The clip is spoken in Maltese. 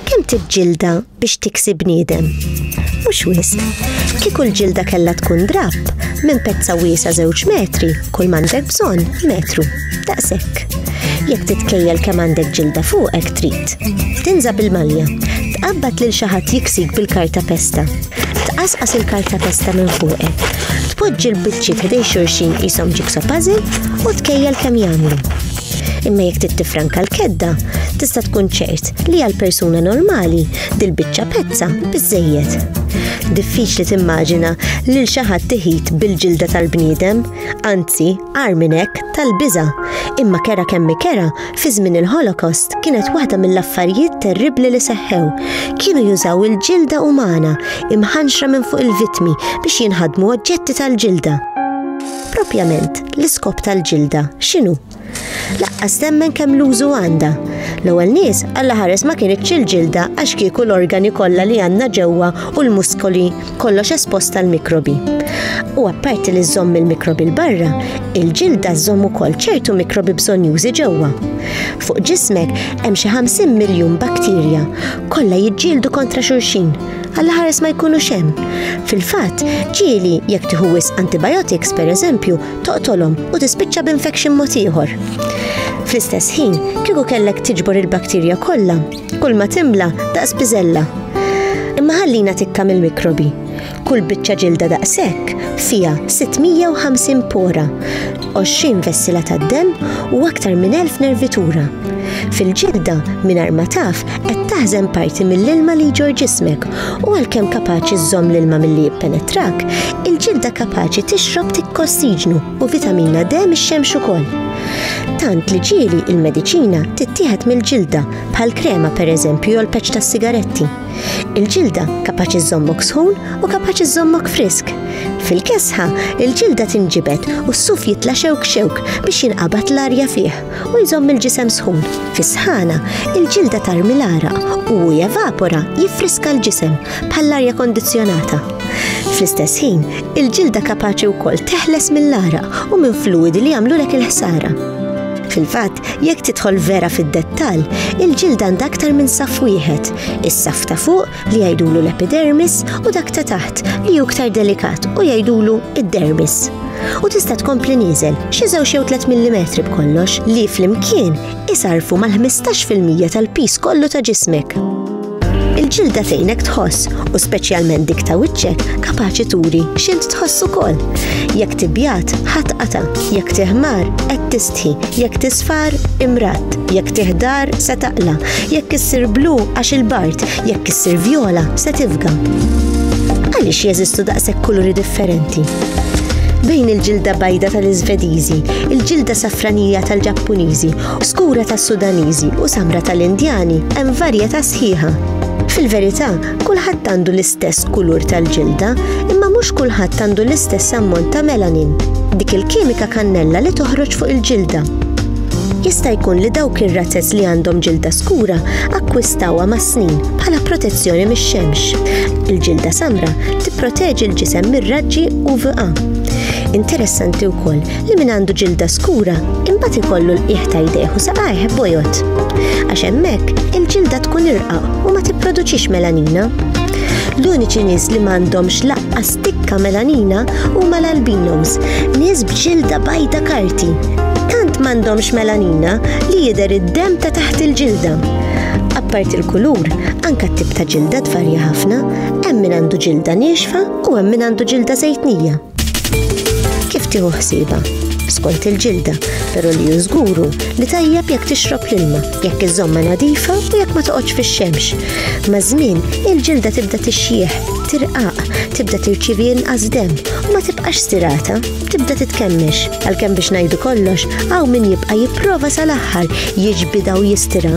Kemm tiġġilda biex tiksi bniedem? Mhux wisq. Kieku l-ġilda kellha tkun drab, minn pezza wiesa żewġ metri, kull m'għandek bżonn metru. Daqshekk. Jekk titkejjel kemm għandek ġilda fuqek trid. Tinża bil-malja. Tqabbad lil xi ħadd jiksik bil-karta pesta. Tqasqas il-kartapesta minn fuqek. Tpoġġi l-biċċiet ħdej xulxin qishom jigsaw puzzle u tkejjel kemm jagħmlu. Imma jekk trid tifranka l-kedda, tista' tkun ċert li għal persuna normali dil-biċċa pezza biżżejjed. Diffiċli timmaġina lil xi ħadd tiħid bil-ġilda tal-bniedem, anzi, għar minn hekk tal-biża', imma kera kemm kera Fi żmien il-Holocaust kienet waħda mill-affarijiet terribbli li seħħew. Kienu jużaw il-ġilda umana imħanxra minn fuq il-vittmi biex jinħadmu oġġetti tal-ġilda. Propjament, l-iskop tal-ġilda x'inhu? Laqqas temmen kemm l-użu għandha. L-ewwel nies Alla ħares ma kienitx il-ġilda għax kieku l-organi kollha li għandna ġewwa u l-muskoli kollox espost għal mikrobi. U apparti li żomm il-mikrobi l-barra, il-ġilda żomm ukoll ċertu mikrobi bżonjużi ġewwa. Fuq ġismek hemm xi 50 miljun bakterja, kollha jiġġieldu kontra xulxin, għalla ħares ma jkunux hemm. Fil-fatt, ġieli jekk tieħu wisq antibiotics pereżempju, toqtolhom u tispiċċa b'infection mod ieħor. Fl-istess ħin, kieku kellek tiġbor il-bakterja kollha, Kull ma timla daqs biżella. Imma ħallina tikka mill-mikrobi. Kull biċċa ġilda daqshekk fiha 650 pora, 20 vessila tad-demm u aktar minn 1000 nervitura. Fil-ġilda mingħajr ma taf qed taħżen parti mill-ilma li jġor ġismek u għalkemm kapaċi żżomm l-ilma milli jippenetrak, il-ġilda kapaċi tixrob tikkossiġnu. u vitamina D mix-xemx ukoll. Tant li ġieli il-mediċina tittieħed mill-ġilda bħal krema pereżempju jew peċ tas-sigaretti. Il-ġilda kapaċi żommok sħun u kapaċi żommok frisk. Fil-kesħa, il-ġilda tinġibet u s-suf jitla' xewk xewk biex jinqabad l-arja fih u jżomm il-ġisem sħun. Fis-sħana, il-ġilda tarmi l-araq u evapora jiffriska l-ġisem bħall-arja kondizzjonata. Fl-istess ħin, Il-ġilda kapaċi wkoll teħles mill-għaraq u minn fluwidi li jagħmlulek il-ħsara. Fil-fatt, jekk tidħol vera fid-dettall, il-ġilda għandha aktar minn saf wieħed, is-saf ta' fuq li jgħidulu l-epidermis u dak ta' taħt li hu aktar delikat u jgħidulu id-dermis. U tista' tkompli nieżel xi żewġ jew 3 mm b'kollox li flimkien isarfu mal-15% tal-pis kollu ta' ġismek. Il-ġilda tgħinek tħoss u speċjalment dik ta' wiċċek kapaċi turi x'int tħoss ukoll. Jekk tibjat, ħadd qata, jekk tiħmar, qed tistħi, jekk tisfar, imrat, jekk tiħdar, se taqla, jekk issir blu għax il-bart, jekk issir vjola, se tifga. Għaliex jeżistu daqshekk kuluri differenti? bejn il-ġilda bajda tal-Iżvediżi, il-ġilda safranija tal-Ġappuniżi Skura tas-Sudaniżi u samra tal-Indjani hemm varjetà sħiħa. Fil-verità, kulħadd għandu l-istess kulur tal-ġilda, imma mhux kulħadd għandu l-istess ammont ta' melanin, dik il-kimika kannella li toħroġ fuq il-ġilda. Jista' jkun li dawk ir-razez li għandhom ġilda skura akkwistawha mas-snin bħala protezzjoni mix-xemx. Il-ġilda samra tipproteġi l-ġisem mir-raġġi UVA. Interessanti wkoll li min għandu ġilda skura imbagħad ikollu l-qiegħ ta' jdejh u saqajh bojot. Għax hemmhekk il-ġilda tkun irqa u ma tipproduċix melanina. L-uniċi nies li m'għandhomx laqqa stikka melanina huma l-albinos, nies b'ġilda bajda karti. Tant m'għandhomx melanina li jidher id-dem ta' taħt il-ġilda. Apparti l-kulur, anka t-tip ta' ġilda tvarja ħafna, hemm min għandu ġilda niexfa u hemm min għandu ġilda zejtnija. Kif tieħu ħsiba? Skont il-ġilda, però li jużguru li tajjeb jekk tixrob l-ilma, jekk iżomma nadifa u jekk ma toqgħodx fix-xemx. Ma' żmien, il-ġilda tibda tixjieħ, tirqaq, tibda tirċivi inqas dem u ma tibqax stirata, tibda titkemmex. Għalkemm biex ngħidu kollox, hawn min jibqa' jipprova sal-aħħar jiġbidha u jistira.